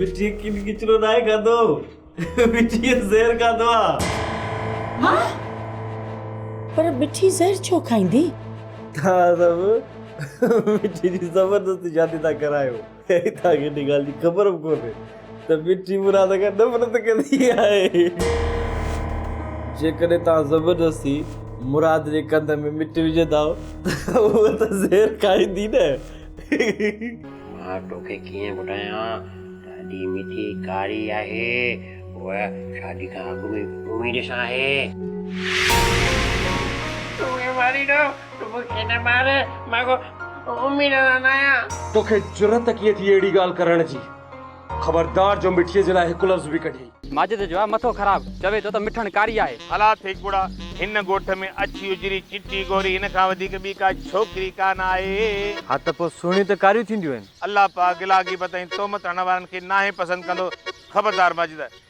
مٺي کين ڪچرو ناهي کاڌو مٺي زهر کاڌو آ ها پر مٺي زهر ڇو کائيندي ها سب مٺي جي زبردست شادي ٿا ڪرايو هتان کي ان ڳالهه جي خبر به ڪونهي ته مٺي مراد کان نفرت ڪندي آهي جيڪڏهن توهان زبردستي مراد جي ڪنڌ ۾ مٺي وجهندا ته هوء ته زهر کائيندي نه مان توکي ڪيئن ٻڌايان ته اڄي مٺي ڪاري آهي هوء شادي کان اڳ ۾ اميد سان آهي. تون مون کي ماريندو تون مون کي نه مار مان ڪو اميد سان نه آهيان. توکي جرئت ڪيئن ٿي اهڙي ڳالهه ڪرڻ جي. خبردار جو مٺيء جي لاء هڪ لفظ به ڪڍين. ماجد جو آهي مٿو خراب، چوي ٿو ته مٺڻ ڪاري آهي. ڀلا ٿي ڪڙا، هن ڳوٺ ۾ اڇي اجري چٽي گوري هن کان وڌيڪ ٻي ڪا ڇوڪري ڪانه آهي. ها ته پوء سهڻيون ته ڪاريون ٿينديون آهن. الله پاڪ گلا غيبت ۽ تهمت هڻڻ وارن کي ناهي پسند ڪندو. خبردار ماجد،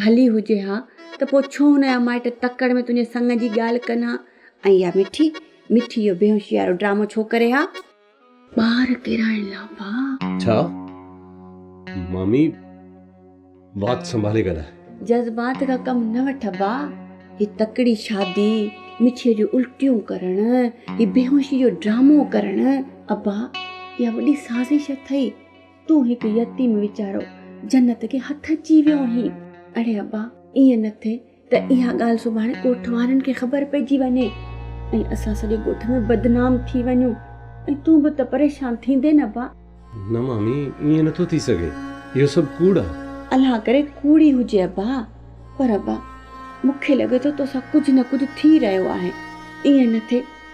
ڀلي هجي ها ته پوء ڇو هن جا مائٽ تڪڙ ۾ تنهنجي سڱ جي ڳالهه ڪن ها ۽ اها مٺي مٺي اهو بيهوشيارو ڊرامو ڇو ڪري ها. ٻار ڪيرائڻ لا ڀاء. ڇا مامي وات سنڀالي ڳالهاء. جذبات کان ڪم نه وٺ ڀاء. هي تڪڙي شادي، مٺيء جون الٽيون ڪرڻ، هي بيهوشي جو ڊرامو ڪرڻ، ابا اها وڏي سازش اٿئي. تون هڪ يتيم ويچارو جنت کي هٿ اچي ويو آهين. اڙي ابا ائين نه ٿئي ته اها ڳالهه سڀاڻي ڳوٺ وارن کي خبر پئجي وڃي ۽ اسان سڄي ڳوٺ ۾ بدنام ٿي وڃون ۽ تون به ته پريشان ٿيندين ابا. نه مامي ائين نه ٿو ٿي سگهي اهو سڀ ڪوڙ آهي. الله ڪري ڪوڙ ئي هجي ابا پر ابا مون کي لڳي ٿو توسان ڪجهه نه ڪجهه ٿي رهيو آهي ائين نه ٿئي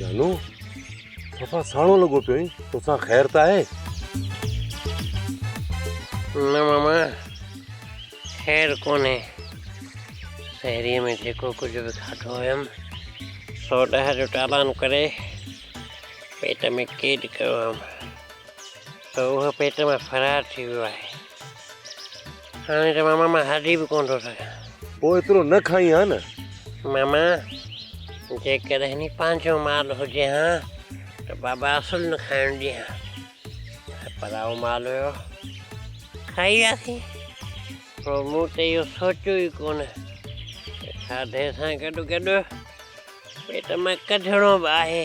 جانو توسان ساڻو لڳو پيو آهين توسان خير ته آهي نه ماما خير ڪونهي شهريء ۾ جيڪو ڪجهه به کاڌو هيم سو ڏهه جو ٽالان ڪري پيٽ ۾ قيد ڪيو هيم ته اهو پيٽ مان فرار ٿي ويو آهي. هاڻي ته ماما مان هلي به ڪونه ٿو سگهان. پوء ايترو نه کائين ها نه. ماما جيڪڏهن هي پنهنجو مال هجي ها ته بابا اصل نه کائڻ ڏي ها. هي پرائو مال هيو. کائي وياسين. پوء مون ته اهو سوچيو ئي ڪونه ته کاڌي سان گڏوگڏ پيٽ مان ڪڍڻو به آهي.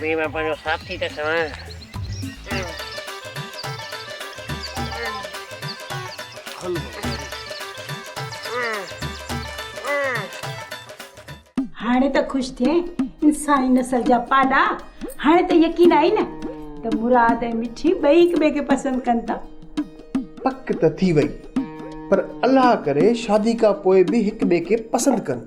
بيهه مان پنهنجو ساٿي ٿي ٺهان. هاڻي ته خوش ٿئين انساني نسل جا پاڏا هاڻي ته يقين آهي نه ته مراد ۽ مٺي ٻئي هڪٻئي کي پسند ڪن ٿا. پڪ ته ٿي وئي پر الله ڪري شادي کان پوء به هڪ ٻئي کي پسند ڪن.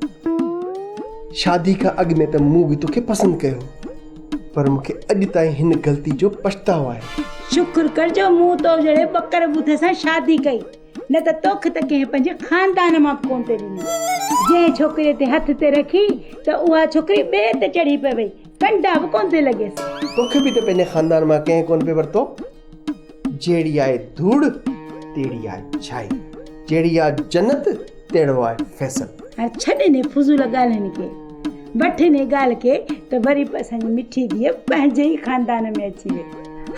شادي کان اڳ ۾ ته مون به توکي پسند ڪيو هو پر مون کي اڄ تائين هن غلطي جو پڇتاء آهي. شڪر ڪر جو مون تو جهڙي ٻڪر ٻڌ سان شادي ڪئي نه ته توکي ته ڪنهن پنهنجي خاندان مان به ڪونه ٿي ڏني. جنهن ڇوڪريء تي هٿ ٿي رکي ته اها ڇوڪري ٻئي تي چڙهي پئي وئي، ڪنڊا به ڪونه ٿي لڳيس. توکي به ته پنهنجي خاندان مان ڪنهن ڪونه پئي ورتو. جهڙي آهي ڌوڙ تهڙي آهي ڇائي، جهڙي آهي جنت تهڙو آهي فيصل. هاڻي ڇڏ انهي فضول ڳالهين کي، وٺ انهي ڳالهه کي ته وري به اسان جي مٺي ڌيء پنهنجي ئي خاندان ۾ اچي ويهي.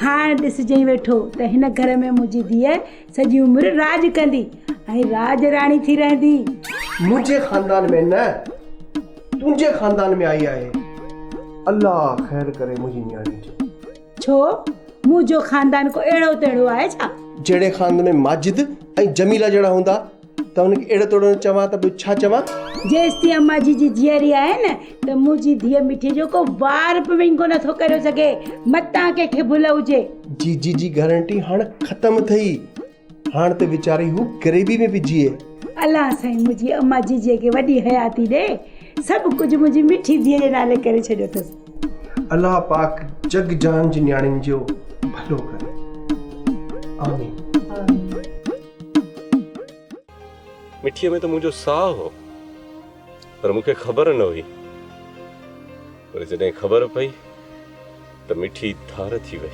هاڻ ڏسجئي ويٺو ته هن گهر ۾ منهنجي ڌيء سڄي عمر راڄ ڪندي ۽ راڄ راڻي ٿي رهندي. منهنجي خاندان ۾ نه، تنهنجي خاندان ۾ آئي آهي. الله خير ڪري منهنجي نياڻي جو. ڇو منهنجو خاندان ڪو اهڙو تهڙو آهي ڇا؟ جهڙي خاندان ۾ ماجد ۽ جميله جهڙا هوندا ته انهن کي اهڙو تهڙو نه چوان ته ٻيو ڇا چوان؟ جيستائين اما جي جي جيئري آهي نه ته منهنجي ڌيء مٺي جو ڪو وار به وڃ ڪونه ٿو ڪريو سگهي، متان ڪنهن کي ڀل هجي. جي جي جي گارنٽي هاڻ ختم ٿئي. هاڻ ته ويچاري هو غريبي ۾ به جيئي. الله سائين منهنجي اما جيجي کي وڏي حياتي ڏي. سڀ ڪجهه منهنجي مٺي ڌيء جي نالي ڪري ڇڏيو اٿس. الله پاڪ جڳ جهان جي نياڻين جو ڀلو ڪري. آمين. مٺيء ۾ ته منهنجو ساهه هو پر مون کي خبر نه هئي. پر جڏهن خبر پئي ته مٺي ڌار ٿي وئي.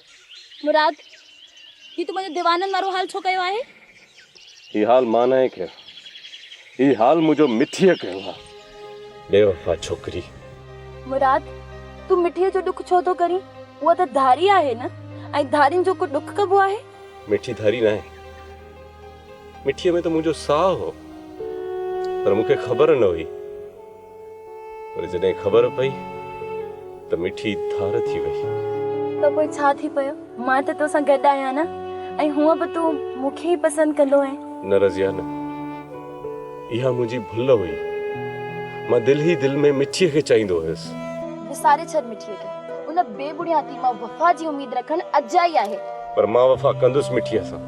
مراد، هي تو منهنجو ديوانن وارو حال ڇو ڪيو آهي؟ هي حال مان ناهي ڪيو. هي حال منهنجو مٺيء ڪيو آهي. بي وفا ڇوڪري! مراد، تون مٺيء جو ڏک ڇو ٿو ڪرين؟ هوء ته ڌاري آهي نه؟ ۽ ڌارين جو ڪو ڏک ڪبو آهي؟ مٺي ڌاري ناهي. مٺيء ۾ ته منهنجو ساهه هو. پر مون کي خبر نه هئي. پر جڏهن خبر پئي ته مٺي ڌار ٿي وئي. ته پوء ڇا ٿي پيو؟ مان ته توسان گڏ آهيان نه؟ ۽ هونء به تون مون کي ئي پسند ڪندو هئين. نه رضيه نه. اها منهنجي ڀل هئي. مان دل ئي دل ۾ مٺيء کي چاهيندو هيس. وساري ڇڏ مٺيء کي. ان بي بڻياتي مان وفا جي اميد رکڻ اجائي آهي. پر مان وفا ڪندس مٺيء سان.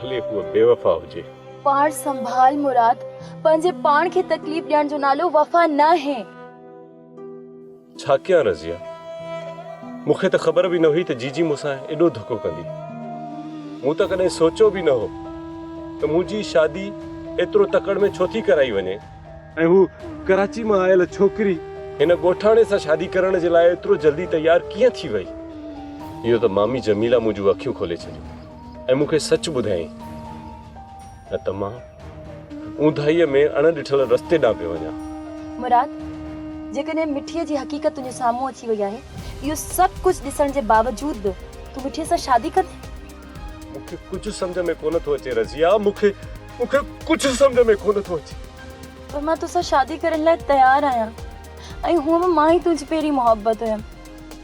ڀلي هوء بيوفا هجي. پاڻ سنڀال مراد، پنهنجي پاڻ کي تڪليف ڏيڻ جو نالو وفا ناهي. ڇا ڪيان رضيه، مون کي ته خبر به نه هئي ته جيجي مون سان ايڏو ڌڪو ڪندي. مون ته ڪڏهن سوچيو به نه هو ته منهنجي شادي ايترو تڪڙ ۾ ڇو ٿي ڪرائي وڃي. ۽ هو ڪراچي مان آيل ڇوڪري هن ڳوٺاڻي سان شادي ڪرڻ جي لاء ايترو جلدي تيار ڪيئن ٿي وئي. اهو ته مامي جميله منهنجون اکيون کولي ڇڏيون. ۽ مون کي سچ ٻڌايائين، نه ته مان اونداهيء ۾ اڻ ڏٺل رستي ڏانهن پيو وڃان. مراد، جيڪڏهن مٺيء جي حقيقت تنهنجي سامهون اچي وئي آهي، اهو سڀ ڪجهه ڏسڻ جي باوجود به تون مٺيء سان شادي ڪندين؟ مون کي ڪجهه سمجهه ۾ ڪونه ٿو اچي رضيه، مون کي مون کي ڪجهه سمجهه ۾ ڪونه ٿو اچي. پر مان تو سان شادي ڪرڻ لاء تيار آهيان ۽ هونئن به مان ئي تنهنجي پهرين محبت هيم.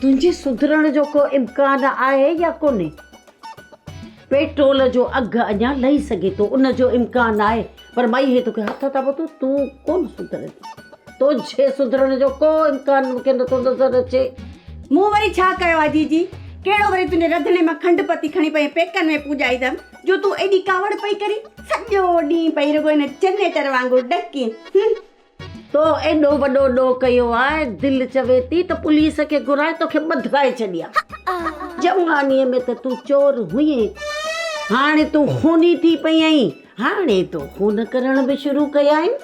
تنهنجي سڌرڻ جو ڪو امڪان آهي يا ڪونهي؟ پيٽرول جو اگهه اڃا لهي سگهي ٿو، ان جو امڪان آهي، پر مئي هي توکي هٿ هٿان ٻڌو، تون ڪونه سڌرندين. تنهنجي سڌرڻ جو ڪو امڪان مون کي نٿو نظر اچي. مون وري ڇا ڪيو آهي جيجي؟ ڪهڙو وري تنهنجي رڌڻي مان کنڊ پتي کڻي پنهنجي پيڪن ۾ پوڄائيندم، جو تون ايڏي ڪاوڙ پئي ڪرين. سڄو ڏينهن پئي رڳو ان جنريٽر وانگر ڏڪين. تو ايڏو وڏو ڏوهه ڪيو آ، دل چوي ٿي ته پوليس کي گهرائي توکي ٻڌائي ڇڏيان. جوانيء ۾ ته تون چور هئين، هاڻي تون خوني ٿي پئي آهين، هاڻي تو خون ڪرڻ به شروع ڪيائين.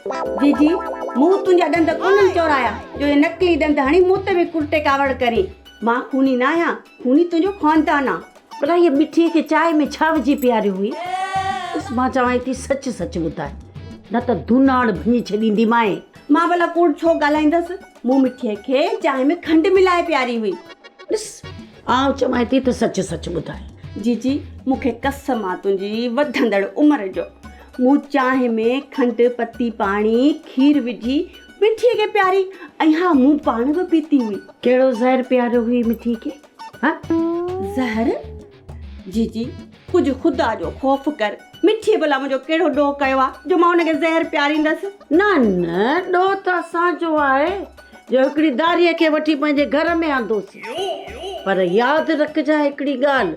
جي جي، مون تنهنجا ڏند ڪونهن چورايا، جو اهي نقلي ڏند هڻي مون تي به ڪرٽي ڪاوڙ ڪرين. مان خوني ناهيان، خوني تنهنجو خاندان آ. ڀلا هيء مٺيء کي چانهه ۾ ڇا وجهي پياريو هئي؟ ڏس مان چوانء ٿي سچ سچ ٻڌاء، نه ته ڌوناڻ ڀڃي ڇڏينديمانء. مان ڀلا ڪوڙ ڇو ڳالهائيندس؟ مون مٺيء کي چانهه ۾ کنڊ ملائي پياري هئي. ڏس آئون چوانء ٿي ته سچ سچ ٻڌاء. جي جي، مون کي قسم آ تنهنجي وڌندڙ عمر جو، مون چانهه ۾ کنڊ، پتي، پاڻي، کير وجهي مٺيء کي پياري ۽ ها مون پاڻ به پيتي هئي. ڪهڙو زهر پياريو هئي مٺيء کي؟ زهر! جي جي، ڪجهه خدا جو خوف ڪر. مٺيء ڀلا منهنجو ڪهڙو ڏوهه ڪيو آهي، جو مان هن کي زهر پياريندس؟ نه نه، ڏوهه ته اسان جو آهي، جو هڪڙي ڌاريء کي وٺي پنهنجي گهر ۾ آندوسين. پر ياد رکجانء هڪڙي ڳالهه،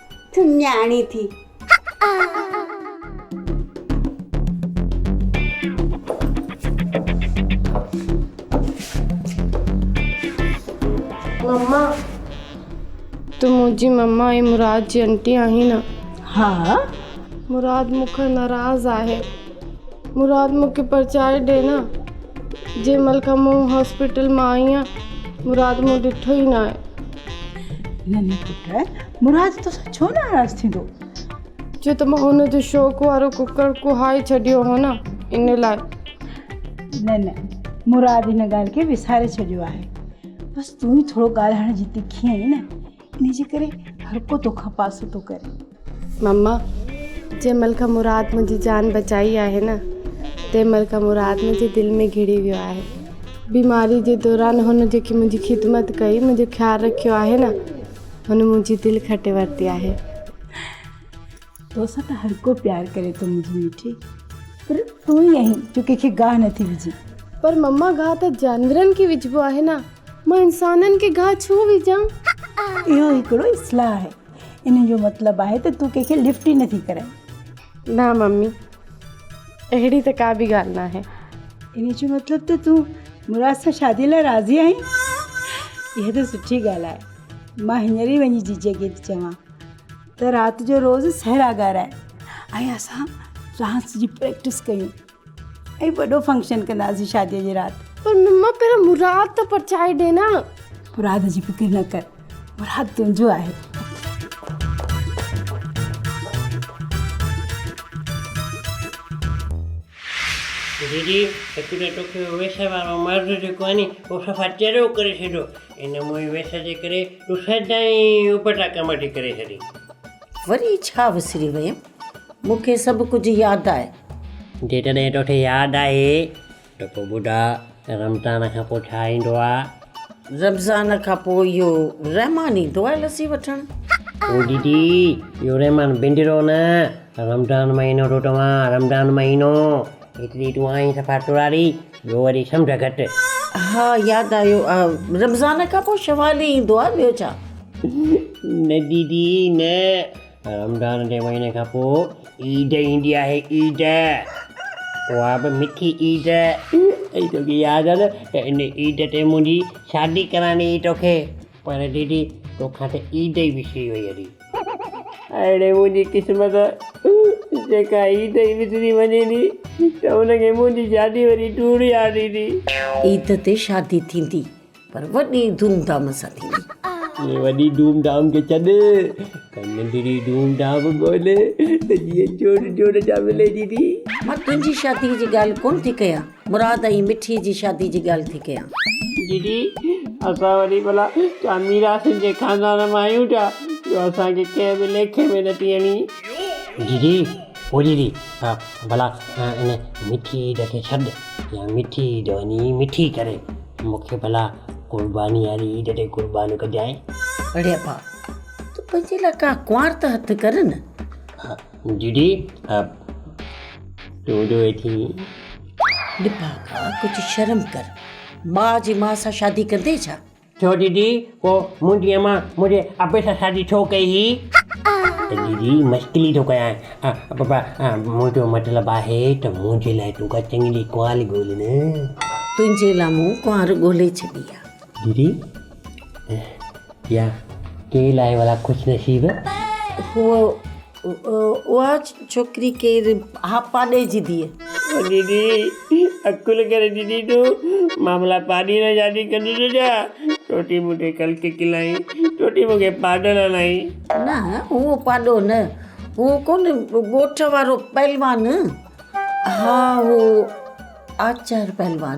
ٿي نياڻي ٿي. مما تون منهنجي مما ۽ مراد جي انٽي آهين نه؟ ها. مراد مون کان ناراض آهي. مراد مون کي پرچائي ڏي نه. جنهن مهل کان مون هاسپيٽل مان آئي آهيان، مراد مون ڏٺو ئي ناهي. ننهن پٽ، مراد توسان ڇو ناراض ٿيندو؟ ڇو ته مان هن جو شوق وارو ڪڪڙ ڪوهائي ڇڏيو هو نه، ان لاء. نه نه، مراد ان ڳالهه کي وساري ڇڏيو آهي. بس تون ئي ٿورو ڳالهائڻ جي تکي آهين نه. ان جي ڪري هر ڪو تو کان پاسو ٿو ڪري. مما جنهن مهل کان مراد منهنجي جان بچائي آهي نه تنهن مهل کان مراد منهنجي دل ۾ گهڙي ويو آهي بيماري جي دوران هن جيڪي منهنجي خدمت ڪئي منهنجو خيال رکيو آهي نه هن منهنجي دل کٽي ورتي آهي. توسان ته هرڪو پيار ڪري ٿو منهنجي مٺي پر تون ئي آهين جو ڪنهن کي گاهه نٿي وجهي. پر مما گاهه ته جاندرن کي وجهبو آهي نه مان انسانن کي گاهه ڇو وجهان. اهو هڪڙو اصلاح آهي ان جو مطلب آهي ته تون ڪنهن کي لفٽ ئي نٿي ڪرائين. نه ممي اهڙي ته ڪا به ڳالهه ناهي. ان جو مطلب ته تون مراد سان شادي لاء راضي آهين اها ته سٺي ڳالهه آهي مان هينئر ئي وڃي جيجي کي ٿي چوان. ته رات جو روز سهرا ڳارائي ۽ اسان ڊانس جي پريڪٽس ڪيون ۽ وڏو فنڪشن ڪنداسين شاديء جي رات پر مما پهريون مراد ته پرچائي ڏي نه مراد جي فڪر نه ڪر مراد تنهنجو آهي ديدي هڪ ته توکي ويسي وارو مرد جيڪو آهي ني اهو صفا چريو ڪري ڇڏيو ان موئي ويس جي ڪري تون سدائين اپٽا ڪم ٿي ڪري ڇڏين. وري ڇا وسري ويم؟ مون کي سڀ ڪجهه ياد آهي. جيڪڏهن توکي ياد آهي ته پوء ٻڌاء ته رمضان کان پوء ڇا ايندو آهي؟ رمضان کان پوء اهو رحمان ايندو آهي لسي وٺڻ. او ديدي اهو رحمان بندرو نه رمضان مهينو ٿو چوان رمضان مهينو. ايتري تون آهين صفا ٽوڙاري، ٻيو وري سمجهه گهٽ. ها ياد آيو رمضان کان پوء شوال ئي ايندو آهي ٻيو ڇا. نه ديدي نه رمضان جي مهيني کان پوء عيد ايندي آهي عيد اها به مٺي عيد ۽ توکي ياد آهي نه ته ان عيد تي منهنجي شادي ڪرائڻي هئي توکي پر ديدي توکان ته عيد ئي وسري وئي هلي. اهڙي منهنجي قسمت جيڪا عيد ئي وسري وڃي ٿي ته ان کي منهنجي شادي وري ٽوڙي آڻي ٿي. عيد تي شادي ٿيندي پر وڏي ڌوم ڌام سان ٿيندي. اهي وڏي ڌوم ڌام کي ڇڏ ته ننڍڙي ڌوم ڌام ڳولي ته جيئن جوڙ جوڙ جا ملي ٿي ٿي. مان تنهنجي شادي جي ڳالهه ڪونه ٿي ڪيان. مراد ۽ مٺي جي شادي جي ڳالهه ٿي ڪيان. جي جي اسان وري ڀلا ڇا ميراثين جي خاندان مان آهيون ڇا جو اسان کي ڪنهن به ليکي ۾ نه ٿي اڻي. جي جي او جي جي ها ڀلا ان مٺي عيد کي ڇڏ يا مٺي عيد وڃي مٺي ڪري مون کي ڀلا قرباني واري عيد تي قربان ڪجانء. اڙي ابا تو پنهنجي لاء ڪا ڪنوار ته هٿ ڪر نه. ڊي ڊي اپ ٽو جو اي ٿي. لفاقا ڪجهه شرم ڪر ٻاء جي ماء سان شادي ڪندين ڇا. ڇو ڊي ڊي پو منهنجي امان منهنجي ابي سان شادي ڇو ڪئي هي. ڊي ڊي مشڪلي ٿو ڪيان بابا منهنجو مطلب آهي ته منهنجي لاء تون ڪا چڱي ڪوال ڳولهه نه. تنهنجي لاء مون ڪنوار ڳولهي ڇڏي آ. دري يا ڪير آهي ڀلا خوش نصيب. اهو اها ڇوڪري ڪير ها پاڏي جي ڌيء. او ڏيڏي عقل ڪري ڏيڏي تو مان ڀلا پاڏي سان شادي ڪندو ٿو ڇا ٽوٽي مونکي ڪلڪ کلائين ٽوٽي مونکي پاڏل هلائين. نه اهو پاڏو نه اهو ڪونهي ڳوٺ وارو پهلوان ها اهو آچار پهلوان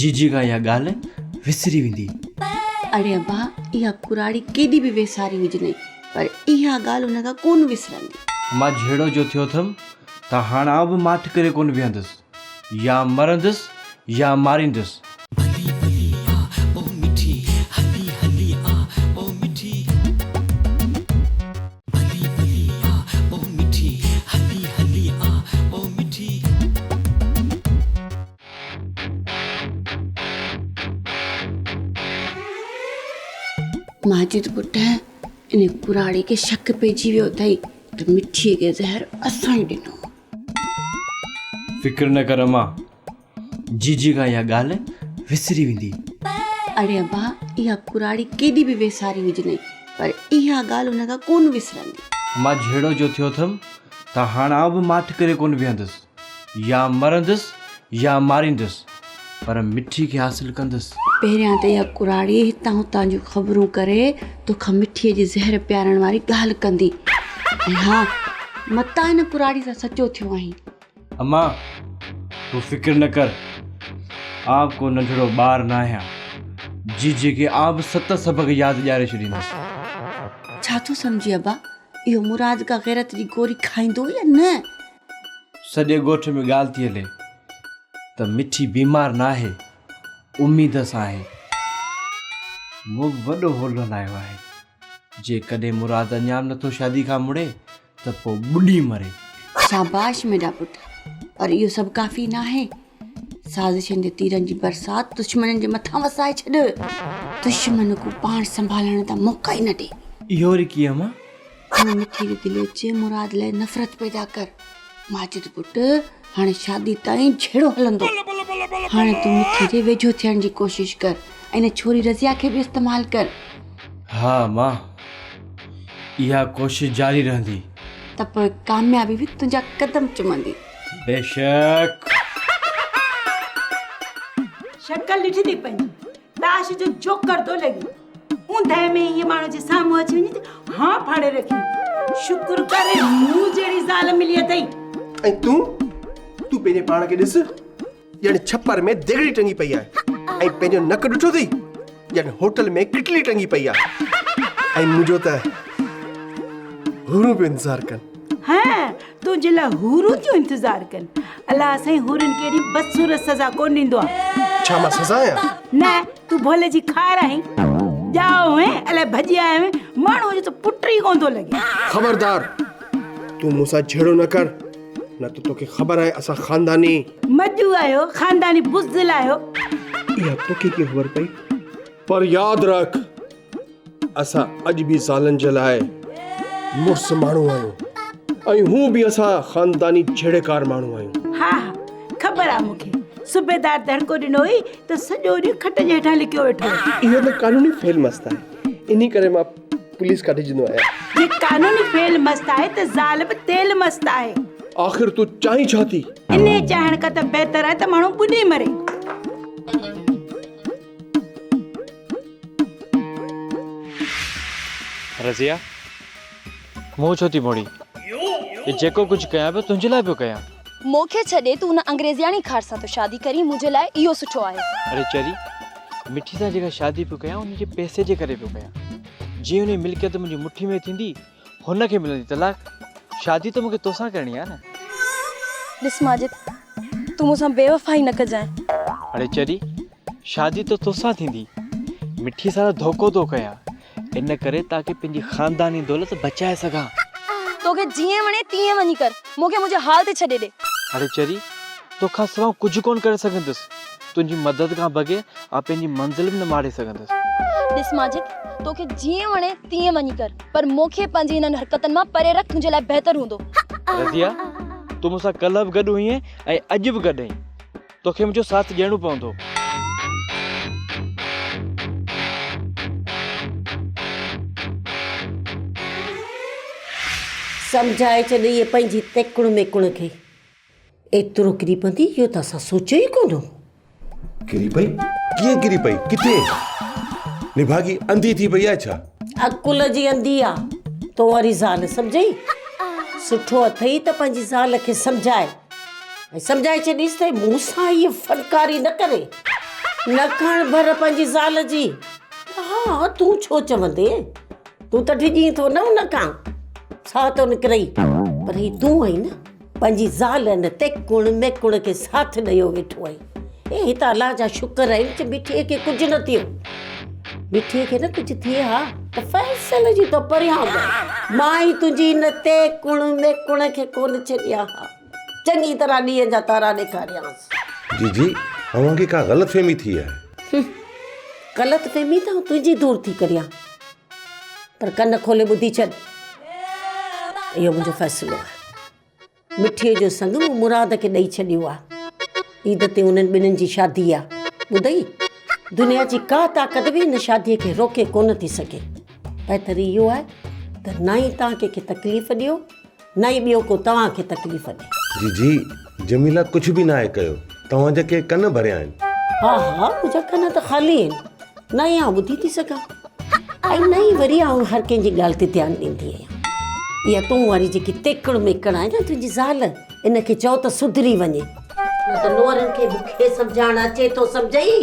جيجي کان اها ڳالهه وسري ويندي. اڙي ابا اها ڪراڙي ڪيڏي به ويساري هجنئي پر اها ڳالهه ان کان ڪونه وسرندي. مان جهيڙو جو ٿيو ٿم ته هاڻ آئون به ماٺ ڪري ڪونه ويهندس. يا مرندس يا ماريندس. ماجد پٽ ان ڪراڙي کي شڪ پئجي ويو اٿئي ته مٺي کي زهر اسان ئي ڏنو آهي. فڪر نه ڪر امان جيجي کان اها ڳالهه وسري ويندي. اڙي ابا اها ڪراڙي ڪيڏي به ويساري هجنئي پر اها ڳالهه هن کان ڪونه وسرندي. مان جهيڙو جو ٿيو ٿم ته هاڻ آئون به ماٺ ڪري ڪونه ويهندس. يا مرندس يا ماريندس پر مٺي کي حاصل ڪندس. پهريان ته اها ڪراڙي هتان هتان جون خبرون ڪري توکان مٺي جي زهر پيارڻ واري ڳالهه ڪندي. ۽ ها متان هن ڪراڙي سان سچو ٿيو آهين. اما تون فڪر نه ڪر آء ڪو ننڍڙو ٻار نه آهيان جي جيڪي آء به ست سبق ياد ڏياري ڇڏيندس. ڇا ٿو سمجهين ابا اهو مراد ڪا غيرت جي گوري کائيندو يا نه؟ سڄي ڳوٺ ۾ ڳالهه ٿي هلي ته مٺي بيمار نه آهي اميد سان آهي. مون به وڏو هولو هلايو آهي جيڪڏهن مراد اڃا به نه ٿو شادي کان مڙي ته پوء ٻڏي مري. شاباش ميڊا پٽ پر اهو سڀ ڪافي ناهي سازشن جي تيرن جي برسات دشمنن جي مٿان وسائي ڇڏ دشمن ڪو پاڻ سنڀالڻ جا موقعا ئي نه ڏي. اهو رکي اما. هن مٺي ري دليچي مراد لاء نفرت پيدا ڪر ماجد پٽ. هاڻي شادي تائين جهيڙو هلندو. هاڻي تون مٺي جي ويجهو ٿيڻ جي ڪوشش ڪر ۽ ان ڇوري رضيه کي به استعمال ڪر. ها مان اها ڪوشش جاري رهندي. ته پوء ڪاميابي به تنهنجا قدم چمندي. بيشڪ. شڪل ڏٺي ٿي پنهنجي تاش جو جوڪر ٿو لڳي. اوندهه ۾ ايئن ماڻهو جي سامهون اچي وڃي ته هان ڦاڙي رکي شڪر ڪر مون جهڙي زال ملي اٿئي. ۽ تون تون پنهنجي پاڻ کي ڏس ڄڻ ڇپر ۾ ديڳڙي ٽنگي پئي آهي ۽ پنهنجو نڪ ڏٺو اٿئي ڄڻ هوٽل ۾ ڪٽلي ٽنگي پئي آهي ۽ منهنجو ته هورون پيو انتظار ڪن. هه تنهنجي لاء حورون ٿيون انتظار ڪن. الله سائين حورن کي اهڙي بدصورت سزا ڪونه ڏيندو آهي. ڇا مان سزا آهيان؟ نه، تون ڀولي جي خار آهين. ڄائو هين، الائي ڀڄي آيو هين. ماڻهوء جو ته پٽ ئي ڪونه ٿو لڳي. خبردار! تون مون سان جهيڙو نه ڪر، نه ته توکي خبر آهي اسان خانداني. مجو آهيو، خانداني بزدل آهيو. اها توکي ڪيئن خبر پئي؟ پر ياد رک! اسان اڄ به زالن جي لاء مڙس ماڻهو آهيون ۽ هون به اسان خانداني جهيڙيڪار ماڻهو آهيون. ها ها خبر آ مون کي صوبيدار دڙڪو ڏنو هئي ته سڄو ڏينهن کٽ جي هيٺان لڪيو ويٺو هو. اهو ته قانوني فعل مست آهي انهي ڪري مان پوليس کان ڊڄندو آهيان. جي قانوني فعل مست آهي ته زال به تيل مست آهي. آخر تون چاهين ڇا ٿي؟ انهي چاهڻ کان ته بهتر آهي ته ماڻهو ٻڏي مري. رضيه! مون ڇو ٿي موڙين؟ هي جيڪو ڪجهه ڪيان پيو، تنهنجي لاء پيو ڪيان. مون کي ڇڏي تون ان انگريزياڻي خار سان ٿو شادي ڪرين، منهنجي لاء اهو سٺو آهي. اڙي چري، مٺي سان جيڪا شادي پيو ڪيان، ان جي پئسي جي ڪري پيو ڪيان. جيئن ان جي ملڪيت منهنجي مٺي ۾ ٿيندي، هن کي ملندي طلاق؟ شادي ته مون کي توسان ڪرڻي آهي نه. ڏس ماجد تون مون سان بيوفائي نه ڪجانء. اڙي چري شادي ته توسان ٿيندي. مٺي سارا ڌوڪو ٿو ڪيان ان ڪري تاڪي پنهنجي خانداني دولت بچائي سگهان. توکي جيئن وڻي تيئن وڃي ڪر مون کي منهنجي حال تي ڇڏي ڏي. اڙي چري توکان سواء ڪجهه ڪونه ڪري سگهندس. تنهنجي مدد کان بغير آء پنهنجي منزل به نه ماڙي سگهندس. ڏس ماجد، توکي جيئن وڻي تيئن وڃي ڪر، پر مون کي پنهنجي انهن حرڪتن مان پري رک، تنهنجي لاء بهتر هوندو. رضيه، تون مون سان ڪلهه به گڏ هئين ۽ اڄ به گڏ آهين. توکي منهنجو ساٿ ڏيڻو پوندو. سمجهائي ڇڏ ايئن پنهنجي تيڪڻ ميڪڻ کي. ايترو ڪري پوندي اهو ته اسان سوچيو ئي ڪونه هو. ڪري پئي؟ ڪيئن ڪري پئي؟ ڪٿي؟ نڀاڳي انڌي ٿي پئي آهي ڇا؟ عقل جي انڌي آ، تون واري زال سمجهين؟ سٺو اٿئي ته پنهنجي زال کي سمجهاء ۽ سمجهائي ڇڏيس ته مون سان هيء فنڪاري نه ڪري. نه کڻ ڀر پنهنجي زال جي. ها تون ڇو چوندين؟ تون ته ڊڄين ٿو نه ان کان. ڇا تو نڪرئي؟ پر هي تون آهين نه. پنهنجي زال ان تي ڪوڻ ۾ ڪوڻ کي ساٿ ڏيو ويٺو آهين. اي هت الله جا شڪر آهن جو مٺيء کي ڪجهه نه ٿيو. مٺيء کي نه ڪجهه ٿئي ها ته فيصل جي تو پريان به مان ئي تنهنجي ان تي ڪوڻ ۾ ڪوڻ کي ڪونه ڇڏيان ها. چڱي طرح ڏينهن جا تارا ڏيکاريانس. جي جي اوهان کي ڪا غلط فهمي ٿي آهي. هه غلط فهمي ته آئون تنهنجي دور ٿي ڪريان. پر ڪن کولي ٻڌي ڇڏ اهو منهنجو فيصلو آهي مٺيء جو سڱ مون مراد کي ڏئي ڇڏيو آهي عيد تي انهن ٻنهن جي شادي آهي ٻڌئي دنيا جي ڪا طاقت به هن شاديء کي روڪي ڪونه ٿي سگهي بهتر اهو آهي ته نه ئي تان ڪنهن کي تڪليف ڏيو نه ئي ٻيو ڪو توهان کي تڪليف ڏئي. جي جي جميله ڪجهه به ناهي ڪيو. توهان جا ڪي ڪن ڀريا آهن. ها ها منهنجا ڪن ته خالي آهن. نه ئي آئون ٻڌي ٿي سگهان. ۽ نه ئي وري آئون هر ڪنهن جي ڳالهه تي ڌيان ڏيندي آهيان. اها تون واري جيڪي تيڪڙ ميڪڙ آهي نه تنهنجي زال ان کي چئو ته سڌري وڃي. نه ته نوهرن کي به کي سمجهائڻ اچي ٿو سمجهئي.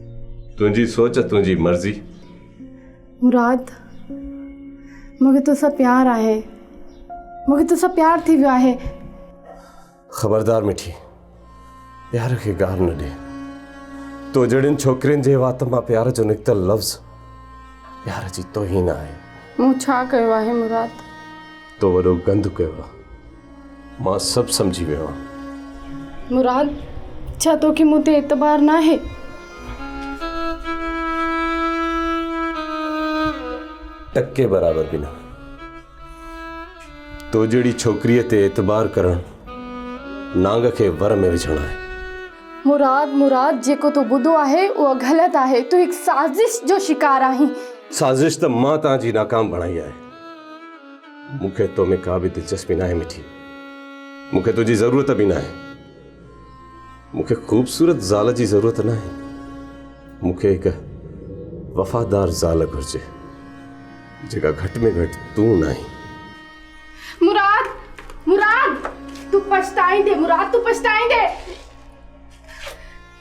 تنهنجي سوچ تنهنجي مرضي. مراد مون کي توسان پيار آهي مون کي توسان پيار ٿي ويو آهي. خبردار مٺي پيار کي گار نه ڏي تو جهڙين ڇوڪرين جي وات مان پيار جو نڪتل لفظ پيار جي توهين آهي. مون ڇا ڪيو آهي مراد. تو وڏو گند ڪيو آهي مان سڀ سمجهي ويو آهيان. مراد، ڇا توکي مون تي اعتبار ناهي؟ ٽڪي برابر به نه. تو جهڙي ڇوڪريء تي اعتبار ڪرڻ نانگ کي ور ۾ وجهڻ آهي. مراد، مراد، جيڪو تو ٻڌو آهي اهو غلط آهي. تون هڪ سازش جو شڪار آهين. سازش ته مان توهان جي ناڪام بڻائي آهي. مون کي تو ۾ ڪا به دلچسپي ناهي مٺي. مون کي تنهنجي ضرورت به ناهي. مون کي خوبصورت زال جي ضرورت ناهي. مون کي هڪ وفادار زال گهرجي جيڪا گهٽ ۾ گهٽ تون ناهين. مراد! مراد! تون پڇتائيندين مراد تون پڇتائيندين.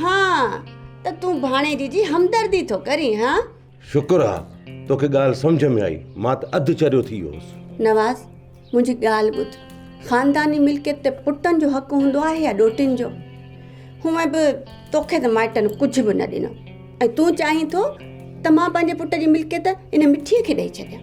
ها ته تون ڀاڻيجي جي همدردي ٿو ڪرين ها. شڪر آ توکي ڳالهه سمجهه ۾ آئي مان ته اڌ چريو ٿي ويو هوس. نواز منهنجي ڳالهه ٻڌ خانداني ملڪيت تي پٽن جو حق هوندو آهي يا ڏوهٽين جو؟ هونء به توکي ته مائٽن ڪجهه به نه ڏنو ۽ تون چاهين ٿو ته مان پنهنجي پٽ جي ملڪيت ان مٺيء کي ڏئي ڇڏيان.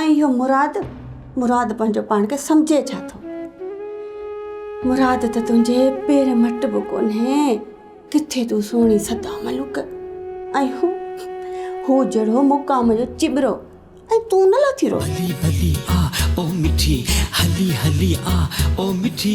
۽ اهو مراد مراد پنهنجو پاڻ کي سمجهي ڇا ٿو مراد ته تنهنجي پير مٽ به ڪونهي ڪٿي تون سهڻي سدا ملوڪ ۽ هو هو جهڙو مقام جو چٻرو ۽ تون نه لاٿي رو هلي هلي آ او مٺي هلي هلي آ او مٺي